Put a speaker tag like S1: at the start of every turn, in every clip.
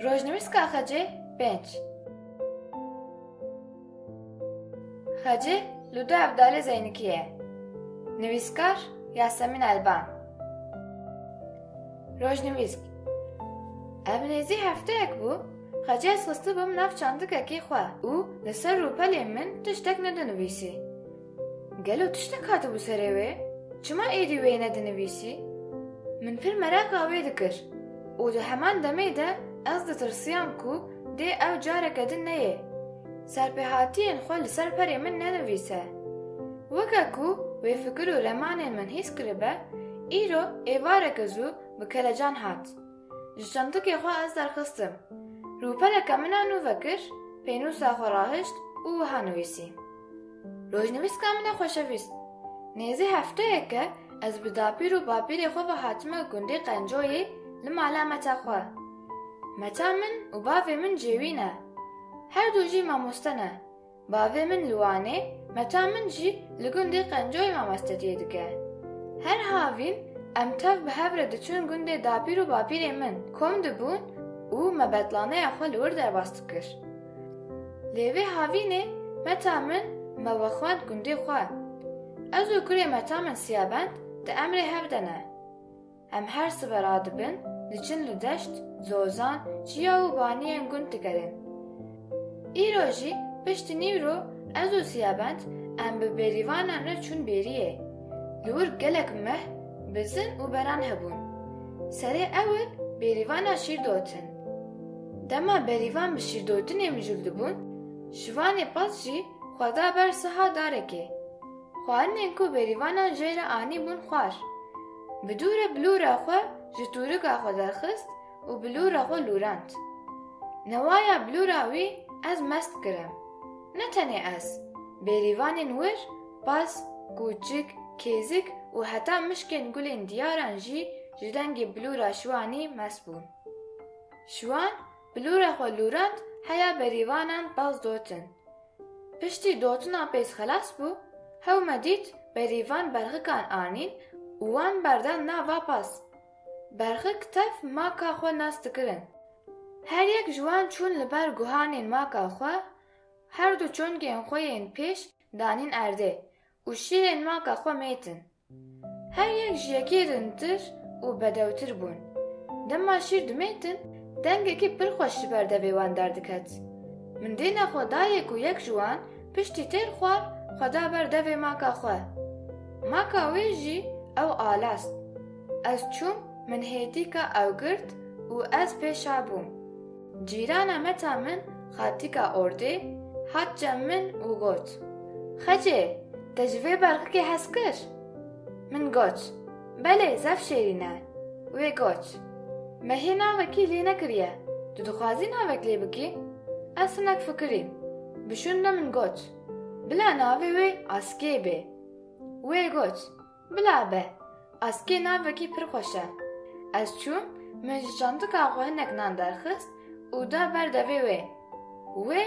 S1: Rojnivîska Xecê pênc. Xecê li du evdalê Zeynikî ye. Nivîskar Yasemîn Elban. Rojnivîsk Ev nêzî hefteyek bû Xecê ez xistibûm nav çandikekî xwe û li ser rûpelê min tiştek nedinivîsî. Gelo tiştek hatibû serê wê? Çima êdî wê nedinivîsî? Min pir meraka wê dikir û di heman demê de ez ditirsiyam ku dê ew careke din neyê serpêhatiyên xwe li ser perê min nenivîse. Weke ku wê fikir û remanên min hîs kiribe, îro êvareke zû bi kelecan hat. Ji çandikê xwe ez derxistim. Rûpeleke min a nû vekir, pênûsa xwe rahişt û wiha nivîsî. Rojnivîska min e xweşevîst. Nêzî hefteyeke ez bi dapîr û bapîrê xwe ve hatime gundê Qencoyê li mala meta xwe. Meta min û bavê min cêwî ne. Her du jî mamoste ne. Bavê min li Wanê, meta min jî li gundê Qencoyê mamestetiyê dike. Her havîn em tev bi hev re diçûn gundê dapîr û bapîrê min, kom dibûn û me betlaneya xwe li wir derbas dikir. Lê vê havînê meta min me wexwend gundê xwe. Ez û kurê meta min Siyabend di emrê hev de ne. Em her sibe radibin, diçin li deşt, zozan, çiya û baniyên gund digerin. Îro jî piştî nîvro ez û Siyabend em bi bêrîvanan re çûn bêriyê. Li wir gelek meh, bizin û beran hebûn. Serê ewil bêrîvana şîr dotin. Dema berîvan bi şîrdotinê mijûl dibûn, şivanê pas jî xwe da ber siha darekê. Xwarinên ku bêrîvanan jê re anîbûn xwar. Bi dû re bilûra xwe ji tûrika xwe derxist û bilûra xwe lûrand. Newaya bilûra wî ez mest kirim. Ne tenê ez, bêrîvanên wir, pas, kûçik, kêzik û heta mişkên gulên diyaran jî ji dengê bilûra Şiwanî mest bûn. Şiwan bilûra xwe lûrand heya berîvanan baz dotin. Piştî dotina pêz xelas bû, hew me dît berî van berxikan anîn û wan berdan nav va pas. Berxik tev maka xwe nas dikirin. Her yek ji wan çûn li ber guhanên maka xwe, herdu çongên xwe yên pêş danîn erdê û şîrên maka xwe mêtin. Her yek ji yekê rintir û bedewtir bûn. Dema şîr dimêtin, dengekî pir xweş ji ber devê wan derdiket. Min dê nexwe dayê ku yek ji wan piştî têr xwar xwe da ber devê maka xwe. Maka wê jî ew alast. Ez çûm min hêdîka ew girt û ez pêşa bûm. Cîrana meta min xatika ordê hat cem min û got, Xecê, te ji vê berxikê hez kir? Min got, Belê, zef şêrîn e. Wê got, Me hê navekî lê nekiriye, tu dixwazî navek lê bikî? Ez hinek fikirîm. Bi şûnde min got, Bila navê wê Askê bê. Wê got, Bila be. Askê navekî pir xweş e. Ez çûm, min ji çandika xwe hinek nan derxist û da ber devê wê. Wê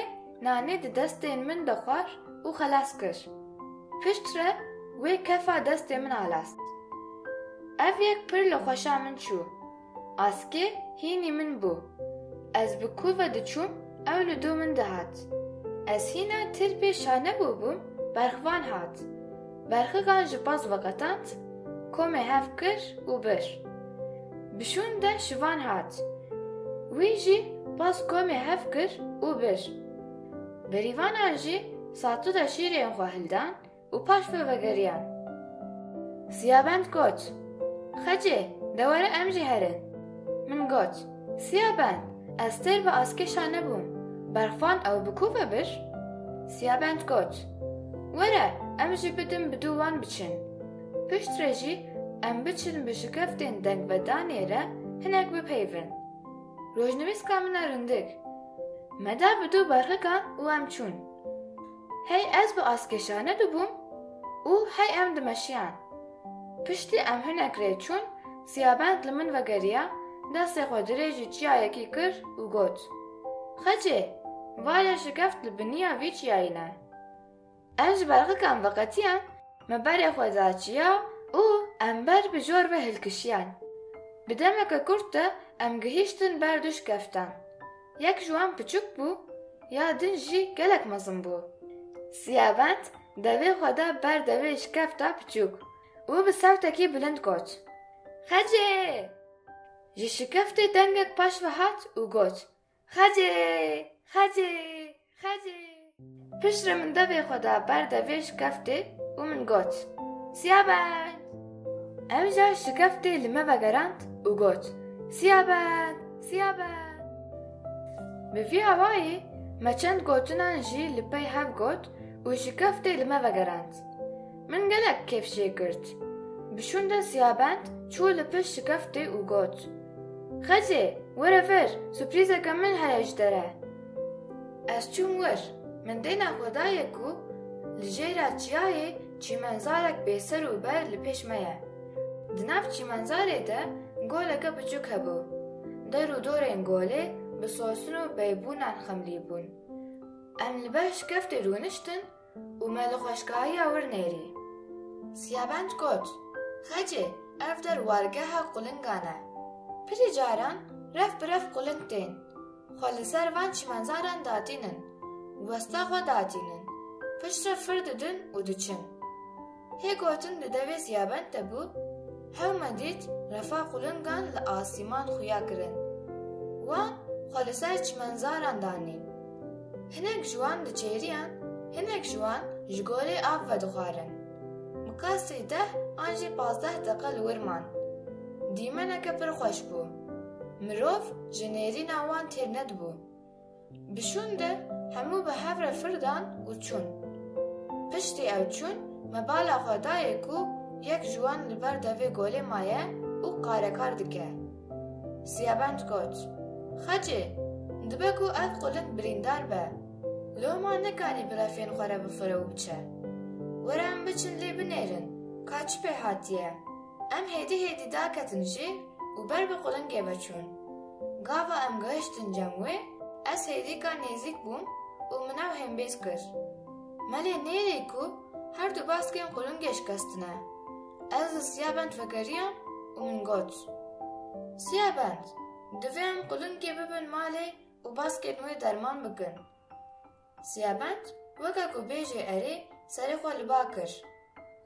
S1: nanê di destên min de xwar û xelas kir. Pişt re wê kefa destê min alast. Ev yek pir li xweşa min çû. Askê hînî min bû. Ez bi ku ve diçûm ew li dû min dihat. Ez hîna tirpê şane bûbûm berxvan hat. Berxigan ji baz veqetand, komê hev kir û bir. Bi şûn de şivan hat. Wî jî baz komê hev kir û bir. Berîvanan jî satuda şîrên xwe hildan, Û paş vê vegeriyan. Siyabend got, Xecê, de were em jî herin. Min got, Siyabend, ez têr bi askêşa nebûm, berxvan ew bi ku ve bir? Siyabend got, Were, em ji bidim bi dû wan biçin. Piştre jî em biçin bi şikeftên dengvedanê re hinek bipeyvin. Rojnivîska min e rindik. Me da bi dû berxikan û em çûn. Hey ez bi askeşa nedibûm û hey em dimeşiyan. Piştî em hinek rê çûn, Siyabend li min vegeriya, destê xwe dirê ji çiyayekî kir û got, Xecê, va ye şikeft li biniya vî çiyayî ne. Em ji berxikan veqetiyan, me berê xwe da çiya û em ber bi jor ve hilkişiyan. Bi demeke kurt de em gihîştin ber du şikeftan. Yek ji wan piçûk bû, ya din jî gelek mezin bû. Siyabend devê xwe da ber devê şikefta piçûk û bi sewtekî bilind got, Xecê! Ji şikeftê dengek paşve hat û got, Xecê! Xecê! Xecê! Piştre min devê xwe da ber devê şikeftê û min got, Siyabend! Ew jî şikeftê li me vegerand û got, Siyabend! Siyabend! Bi vî awayî me çend gotinan jî li pey hev got û şikeftê li me vegerand. Min gelek kêf jê girt. Bi şûnde Siyabend çû li pişt şikeftê û got, Xecê, were vir, suprîzeke min heye ji te re. Ez çûm wir. Min dêna xwe daye ku li jêra çiyayê çîmenzarek bêser û ber li pêş me ye. Di nav çîmenzarê de goleke biçûk hebû. Der û dorên golê bi sosin û peybûnan xemlî bûn. Em li ber şikeftê rûniştin, Û me li xweşkahiya wir nêrî. Siyabenc got, Xecê, ev der wargeha qulingan e. Pirî caran rev bi rev quling tên. Xwe li ser van çimenzaran datînin. Westa xwe datînin. Piştre fir didin û diçin. Hê gotin di devê Ziyabend de bû, hewme dît refa qulingan li asîman xuya kirin. Wan xwe li ser çimenzaran danî. Hinek ji wan diçêriyan, hinek ji wan ji gorê av vedixwarin. Miqasî deh an jî pazdeh deqe li wir man. Dîmeneke pir xweş bû. Mirov ji nêrîna wan têr nedibû. Bi şûn de hemû bi hev re fir dan û çûn. Piştî ew çûn, me bala xwe dayê ku yek ji wan li ber devê golê maye û qarekar dike. Siyabend got, Xecê, dibe ku ev quling birîndar be. Loma nikanî bi refên xwe re bifire û biçe. Were em biçin lê binêrin ka çi pê hatiye. Em hêdî hêdî daketin jî û ber bi qulingê ve çûn. Gava em gihiştin cem wê, ez hêdîka nêzîk bûm û min ew hêmbêz kir. Me lê nêrî ku her du baskên qulingê şikestine. Ez li Siyabend vegeriyam û min got, Siyabend, divê em qulingê bibin malê û baskên wê derman bikin. Siyabend weke ku bêjê erê serê xwe li ba kir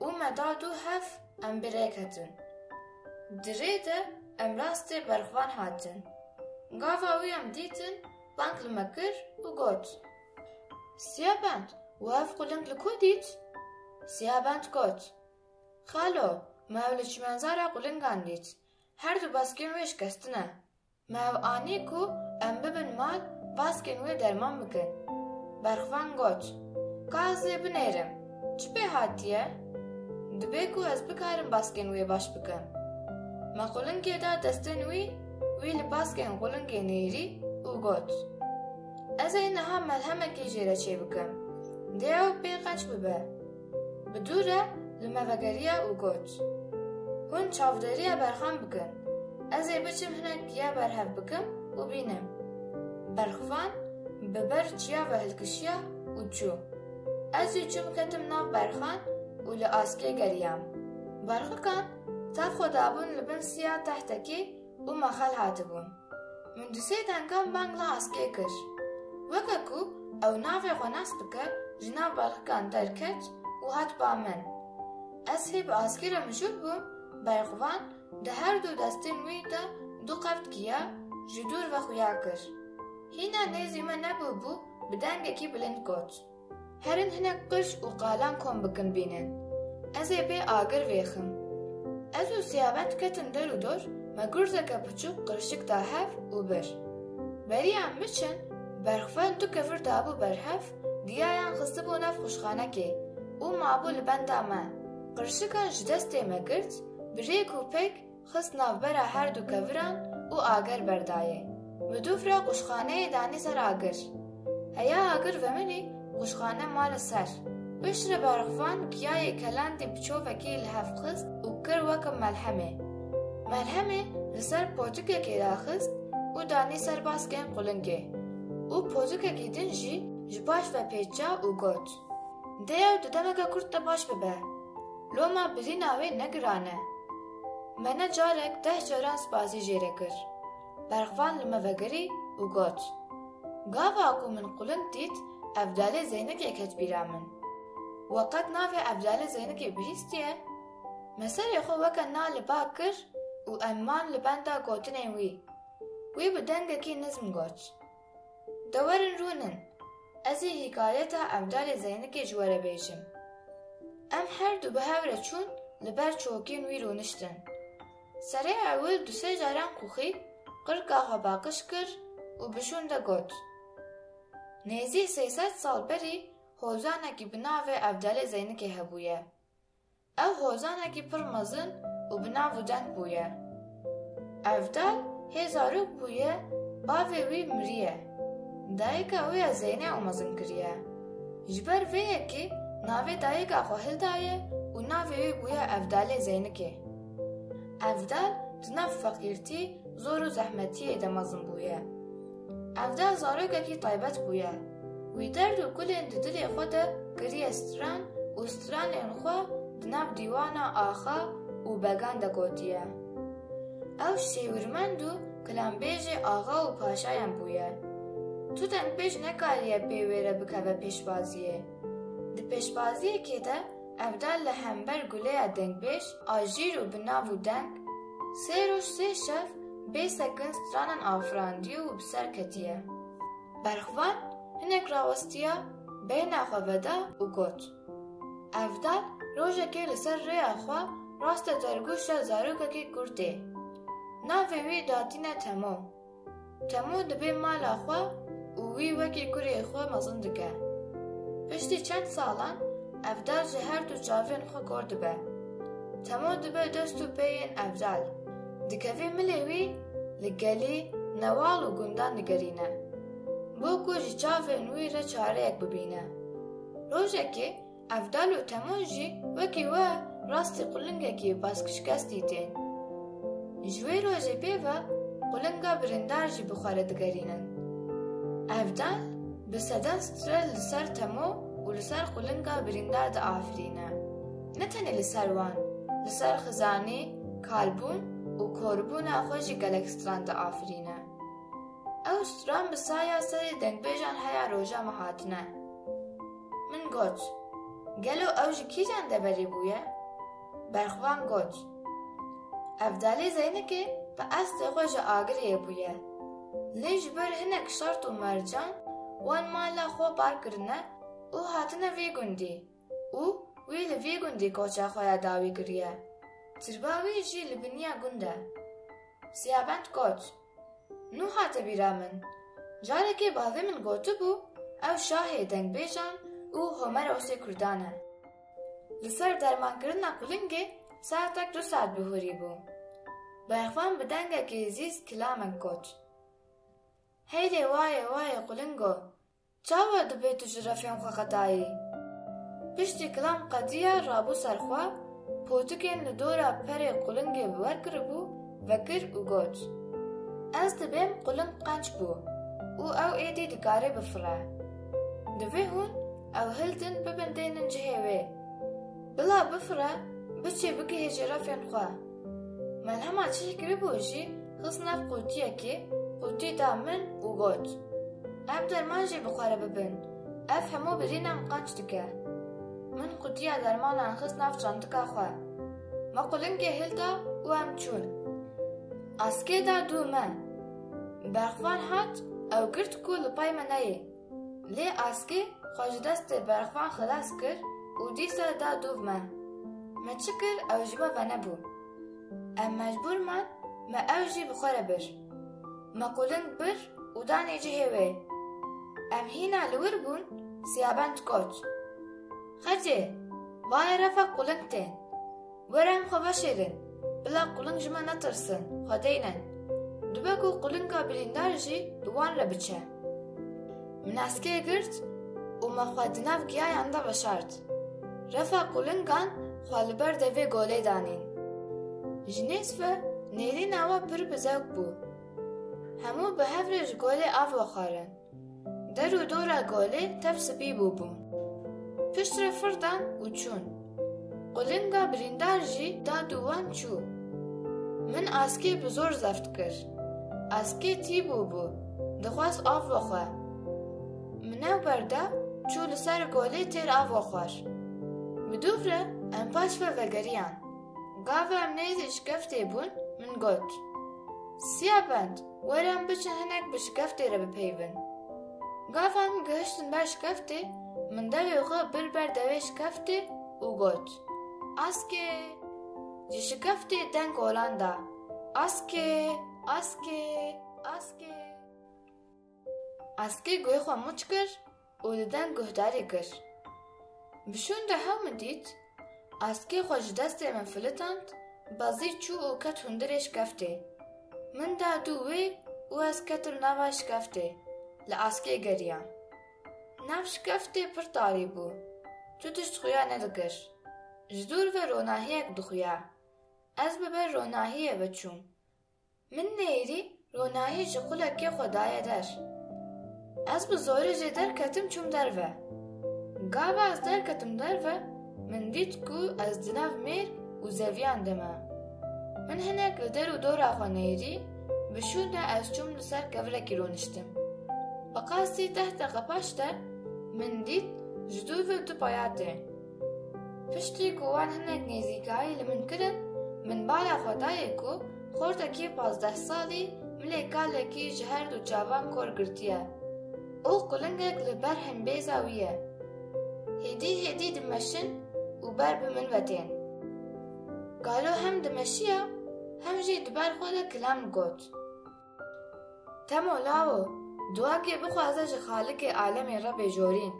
S1: û me da du hev em bi rê ketin. Di rê de em rastê berxwean hatin. Gava wî em dîtin bang li me kir û got, Siyabend wi hev quling li ku dît? Siyabend got, Xalo me ew li çimenzara qulingan dît, her du baskên wê şikestine. Me ev anî ku em bibin mal baskên wê derman bikin. Berxvan got, Ka ez ê binêrim, çi pê hatiye? Dibê ku ez bikarim baskên wê baş bikim. Me qulingê da destên wî, wî li baskên qulingê nêrî û got, Ez ê niha melhemekê jê re çêbikim, dê ew pê qeç bibe. Bi dû re li me vegeriya û got, Hûn çavdêriya berxan bikin, ez ê biçim hinek giya berhev bikim û bînim. Berxvan bi ber çiya ve hilkişiya û çû. Ez jî çûm ketim nav berxan û li askê geriyam. Berxikan tev xwe dabûn li bin siya tehtekê û mexel hatibûn. Min di sê dengan bangla askê kir. Weke ku ew navê xwe nas bike ji nav belxikan derket û hat ba min. Ez hê bi askê re mijûl bûm, berxwevan di her du destên wî de du qeft giya ji dûr ve xuya kir. Hîna nêzî me nebûbû bi dengekî bilind got. Herin hinek qirç û qalan kom bikin bînin. Ez ê bê agir vêxim. Ez û Siyabend ketin der û dor me gurzeke piçûk qirçik da hev û bir. Beriya em biçin, berxweyn du kevir dabû ber hev, giyayan xistibû nav xwişxanekê û mabû li benda me. Qirçikan ji destê me girt, bi rêk û pêk, Xist navbera her du keviran û agir berdayê. Midûf re qûşxaneyê danî ser agir. Heya agir veminî qûşxane ma li ser. Piştre berxvan giyayê kelandî bi çovekî li hev xist û kir weke melhemê. Melhemê li ser potikekê daxist û danî ser baskên qulingê. Û potikekî din jî ji paş ve pêç ca û got, Dêw di demeke kurt de baş bibe. Loma bilîna wê ne giran e. Me ne carek deh caran spasî jê re kir. Berxvan li me vegirî û got, Gava ku min qûlind dît Evdalê Zeynikê ket bîra min. We qet navê Evdalê Zeynikê bihîstiye? Me serê xwe weke na li ba kir û em man li benda gotinên wî. Wî bi dengekî nizm got. De werin rûnin, ez ê hîkayeta Evdalê Zeynikê ji we re bêjim. Em her du bi hev re çûn li ber çokên wî rûniştin. Serê ewil du sê caran quxî qirka xwe paqij kir û bi şûn de got, Nêzî sey sed sal berî hozanekî bi navê Evdalê Zeynikê hebûye. Ew hozanekî pir mezin û bi nav û deng bûye. Evdal hê zarok bûye, bavê wî miriye. Dayika wê ya Zeyne ew mezin kiriye. Ji ber vê yekê navê dayika xwe hildaye û navê wî bûye Evdalê Zeynikê. Evdal di nav feqîrtî, zor û zehmetiyê de mezin bûye. Ev deh zarokekî taybet bûye. Wî derd û kulên di dilê xwe de kiriye stran û stranên xwe di nav dîwana axa û began de gotiye. Ew şêwirmend û kilanbêjê axa û paşayan bûye. Tu dengpêj nekariye pê wê re bikeve pêşbaziyê. Di pêşbaziyekê de ev deh li hember guleya dengpêj a jîr û bi nav û deng, Sê roj sê şev bê sekin stranan afirandiye û bi ser ketiye. Berxvan hinek rawestiya beyna xwe veda û got, Evdal rojekê li ser rêya xwe raste dergûşa zarokekî kurtê. Navê wî datîne Temo. Temû dibe mala xwe û wî wekî kurê xwe mezin dike. Piştî çend salan Evdal ji her du çavên xwe kor dibe. Temû dibe dest û peyên Evdal. Dikeve milê wî li gelî, newal û gundan digerîne. Bo ku ji çavên wî re çareyek bibîne. Rojekê. Ev dal û temûn jî wekî we rastî qulingekî baskşikes dîtên. Ji wê rojê pê ve qulinga birîndar jî bi xwe re digerînin. Ev dal bi seden stre li ser temo û li ser qulinga birîndar diafirîne. Ne tenê li ser wan, li ser xizanî, kalbûn û korbûna xwe jî gelek stran diafirîne. Ew stran bi saya serê dengbêjan heya roja me hatine. Min got, Gelo ew ji kîjan deverê bûye? Berxvan got, Evdalê Zeynikê bi qesdê xwe ji Agiriyê bûye. Lê ji ber hinek şert û mercan wan mala xwe bar kirine û hatine vê gundî û wî li vê gundî koça xwe ya dawî kiriye. Tirba wî jî li biniya gund e. Siyabend got. Nû hate bîra min. Carekê bavê min gotibû ew şahê dengbêjan û Homerosê kurdan e. Li ser dermankirina kulingê saetek du saet bi hûrî bû. Berxvan bi dengekî zîz kilamek got. Heylê wayê wayê kulingo Çawa divê tu ji refên xwe qedayî? Piştî kilam qedîya rabû ser xwe, potikên li dora perê qulingê bi wer kiribû, vekir û got, Ez dibêm quling qenc bû û ew êdî dikare bifire. Divê hûn ew hildin bibindênin cihê wê. Bila bifire biçê bigihêje refên xwe. Melhema çi hikî bû jî xist nav qûtiyekê, qûtî da min û got, Em derman jê bi xwe re bibin, ev hemû birînan qenc dike. Min qûtiya dermanan xist nav çandika xwe. Me qulingê hilda û em çûn. Askê da dû me. Berxvan hat, ew girt ku li pay me neyê. Lê askê xwe ji destê berxwean xilas kir û dîsa da dûv me. Me çi kir ew ji we venebû. Em mecbûr man me ew jî bi xwe re bir. Me qûlind bir û danê cihê wê. Em hîna li wir bûn Siyabend got, Xecê, vaye refa qûlind tê. Were em xwe veşêlin, bila quling ji me netirsin, xwe deynin. Dibe ku qulinga birîndar jî bi wan re biçe. Min eskê girt û me xwe di nav giyayan de veşart. Refa qulingan xwe li ber devê golê danîn. Ji nêz ve nêrîna we pir bi zewq bû. Hemû bi hev re ji golê av vexwarin. Der û dora golê tev sipî bûbûn. Pişt re fir dan û çûn. Qulinga birîndar jî da dû wan çû. Min askê bi zor zeft kir. Askê tî bûbû, dixwest av bixwe. Min ew berda, çû li ser golê têr ava xwar. Bi dûv re em paş ve vegeriyan. Gava em nêzî şikeftê bûn, min got, Siya bend! Werin biçin hinek bi şikeftê re bipeyivin. Gavan ku gihiştin ber şikeftê, min devê xwe bir ber devê şikeftê û got, Askê! Ji şikeftê deng olan da, Askê! Askê! Askê! Askê guhê xwe mûç kir û di deng guhdarî kir. Bi şûn de hew min dît, askê xwe ji destê min filitand, bezî çû û ket hundirê şkeftê. Min da dû wê û ez ketim nava şkeftê, li askê geriyam. Nav şkeftê pir tarî bû, tu tişt xuya nedikir. Ji dûr ve ronahiyek dixuya. Ez bi ber ronahiyê ve çûm, Min neyîrî ronahî ji qulekê xwe daye der. Ez bi zorê jê derketim çûm derve. Gava ez derketim derve min dît ku ez di nav mêr û zeviyan de me. Min hinek li der û dora xwe neyîrî bi şûn de ez çûm li ser kevirekî roniştim. Bi qasî deh deqe paş de min dît ji dûr ve du paya tê. Piştî ku wan hinek nêzîkayî li min kirin, min bala xwe dayê ku xortekî pazdeh salî milê kalekî ji her du çavan kor girtiye û qulingek li ber himbêza wî ye. Hêdî hêdî dimeşin û ber bi min ve tên. Galo hem dimeşiya hem jî di ber xwe de kilam digot. Temo lawo, duakê bixwaze ji Xalikê alemê re bêjorîn.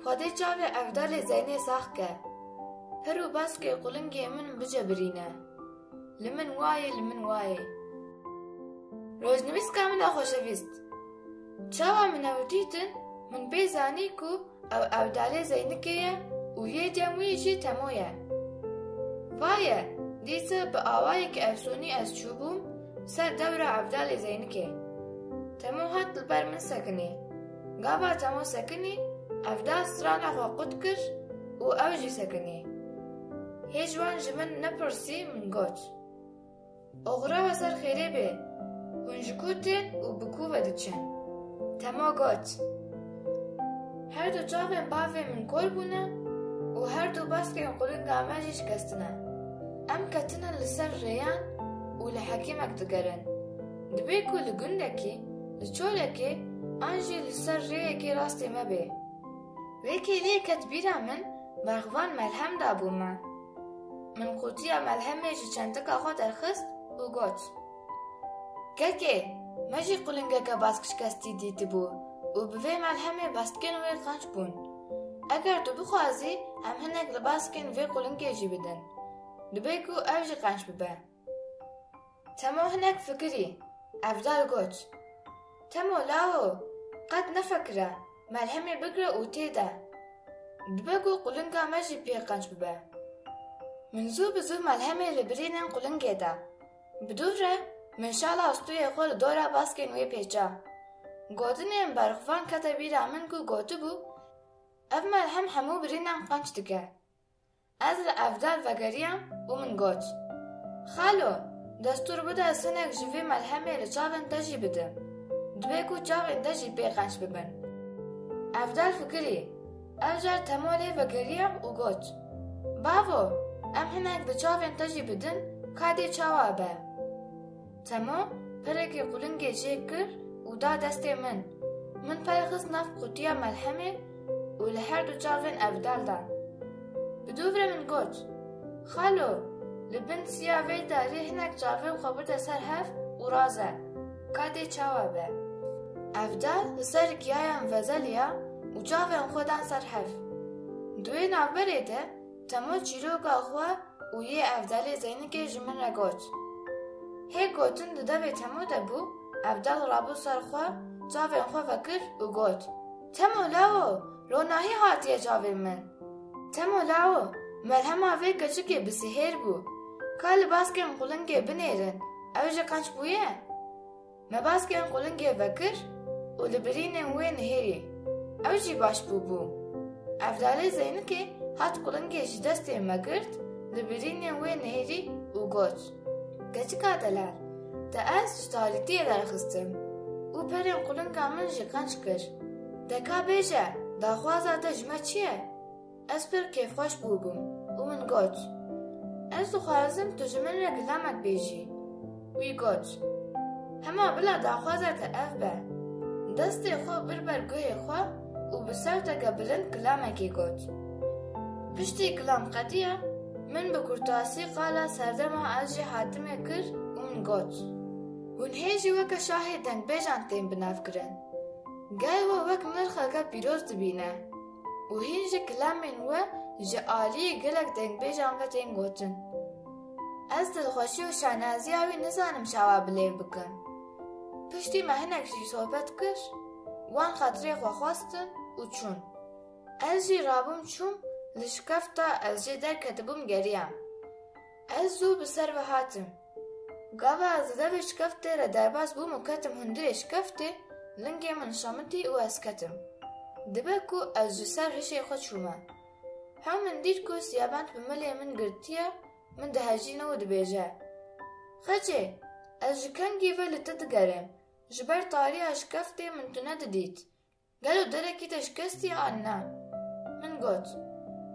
S1: Xwedê çavê evdalê Zeynê sax ke. Pir û baskê qulingê min bicebirîne. Li min wayê, li min wayê. Rojnivîska min a xweşevîst! Çawa min ew dîtin, min pê zanî ku. Ew ewdalê Zeynikê ye û yê cem wî jî Temo ye. Vaye, dîsa bi awayekî efsûnî ez çûbûm ser dewra ewdalê Zeynikê. Temo hat li ber min sekinî. Gava Temo sekinî, ewdal strana xwe qut kir û ew jî sekinî. Hê ji wan ji min nepirsî min got. Oxira ve ser xêrê bê. Hûn ji ku tên û bi ku ve diçin? Tema got, Her du çavên bavê min kor bûne û her du baskên qulinga me jî şikestine. Em ketine li ser rêyan û li hekîmek digerin. Dibê ku li gundekî, li çolekê an jî li ser rêyekê rastê me bê. Vê kêliyê ket bîra min, berxvan melhem dabû me. Min qutiya melhemê ji çentika xwe derxist û got, Kekê, me jî qulingeke baskşikestî dîtibû û bi vê melhemê bastkên wê qenc bûn. Eger tu bixwazî em hinek li baskên vê qulingê jî bidin. Dibe ku ev jî qenc bibe. Temo hinek fikirî, evdal got. Temo lawo qet nefekire melhemê bigre û tê de. Dibe ku qulinga me jî pê qenc bibe. Min zû bi zû melhemê li birînin qulingê de. Bi dûv re min şala stûyê xwe li dora baskên wê pêça. Gotinên berxwevan kete bîra min ku gotibû, Ev melhem hemû birînan qenc dike. Ez li evdar vegeriyam û min got, Xalo, destûr bide ez hinek ji vê melhemê li çavên te jî bidim. Divê ku çavên te jî pê qenc bibin. Evdar fikirî, ev car Temo lê vegeriyam û got, Bavo, em hinek di çavên te jî bidin, ka dê çawa be. Temo pirekê qulingê jê kir û da destê min. Min pey xist nav qutiya melhemê û li her du çavên evdal dan. Bi dûvre min got, Xalo, li bin siya vê darî hinek çavên xwe bide ser hev û raze, ka dê çawa be. Evdal li ser giyayan vezeliya û çavên xwe dan ser hev. Di wê navberê de Temû çîroka xwe û yê evdalê Zeynikê ji min re got. Hê gotin di devê Temû de bû, evdal rabû ser xwe, çavên xwe vekir û got, Temû lawo, ronahî hatiye çavên min. Temû lawo, merhema vê keçikê bi sihêr bû. Ka li baskên qulingê binêrin, ew ji qeç bûye? Me baskên qulingê vekir û li birînên wê nihêrî. Ew jî baş bûbû. Evdalê Zeynikê hat qulingê ji destê me girt, li birînên wê nihêrî û got, Keçika delal, te ez ji talîtiyê derxistim û perên qulinga min jê qenc kir. Te ka bêje, daxwaza te ji me çi ye? Ez pir kêfxweş bûbûm û min got, Ez dixwazim tu ji min re gilamek bêjî. Wî got, Hema bila daxwaza te ev be. Destê xwe bir ber guhê xwe û bi sewteke bilind gilamekê got. Piştî gilam qediya, min bi kurtasî qala serdema ez jî hatimê kir û min got, Hûn hê jî weke şahê dengbêjan tên binavkirin. Gel we wek nirxeke pîroz dibîne. û hîn jî kilamên wê ji aliyê gelek dengbêjan ve tên gotin. Ez dilxweşî û şaneziya wî nizanim çawa bi lêv bikim. Piştî me hinek jî sohbet kir, wan xatirê xwe xwestin û çûn. Ez jî rabûm çûm, li şikefta ez jê derketibûm geriyam. Ez zû bi ser ve hatim. Gava ez li devê şikeftê re derbas bûm û ketim hundirê şikeftê, lingê min şemitî û ez ketim. Dibe ku ez ji ser hişê xwe çûme. Hew min dît ku siyabend bi milê min girtiye, min dihejîne û dibêje, Xecê, ez ji kengî ve li te digerêm, ji ber tariya şikeftê min tu nedidît, Gelo derekî te şikestî an na? Min got,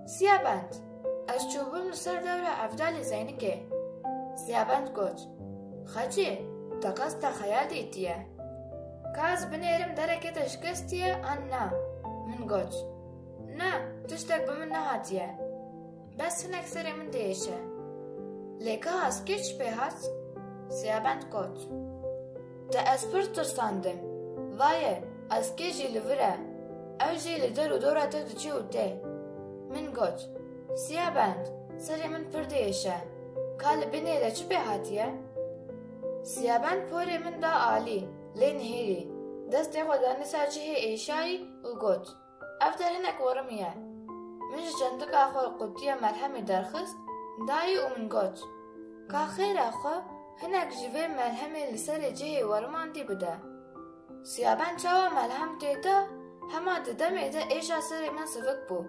S1: Siyabend, ez çûbûm li ser dewra Evdalê Zeynikê. Siyabend got, Xecê, te qas texeya dîtiye. Ka ez binêrim derekê te şikestî ye an na? Min got, Na, tiştek bi min nehatiye. Bes hinek serê min diêşe. Lê ka askê çi pê hat? Siyabend got. Te ez pir tirsandim. Vaye, askê jî li vir e. Ew jî li der û dora te diçe û tê. Min got, Siyabend, serê min pir diêşe. Ka li binê de çi pê hatiye? Siyabend porê min da alî, lê nihêrî. Destê xwe danî ser cihê êşayî û got. Ev de hinek warmî ye. Min ji çentika xwe qutiya melhemê derxist, dayî û min got, Ka xêra xwe hinek ji vê melhemê li serê cihê warman dî bide. Siyaben çawa melhem tê da, hema di demê de êşa serê min sivik bû.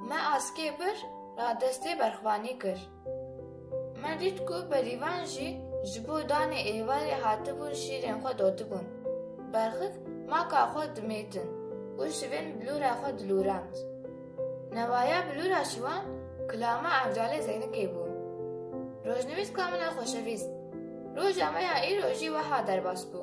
S1: Me askê bir radestê berxwanî kir. Me dît ku berîvan jî ji bo danê êvarê hatibûn şîrên xwe dotibûn. Berxik maka xwe dimêtin û şivên bilûra xwe dilûrand. Newaya bilûra şivan kilama evcalê Zeynikê bû. Rojnivîska min a xoşevîst, roja me ya îro jî weha derbas bû.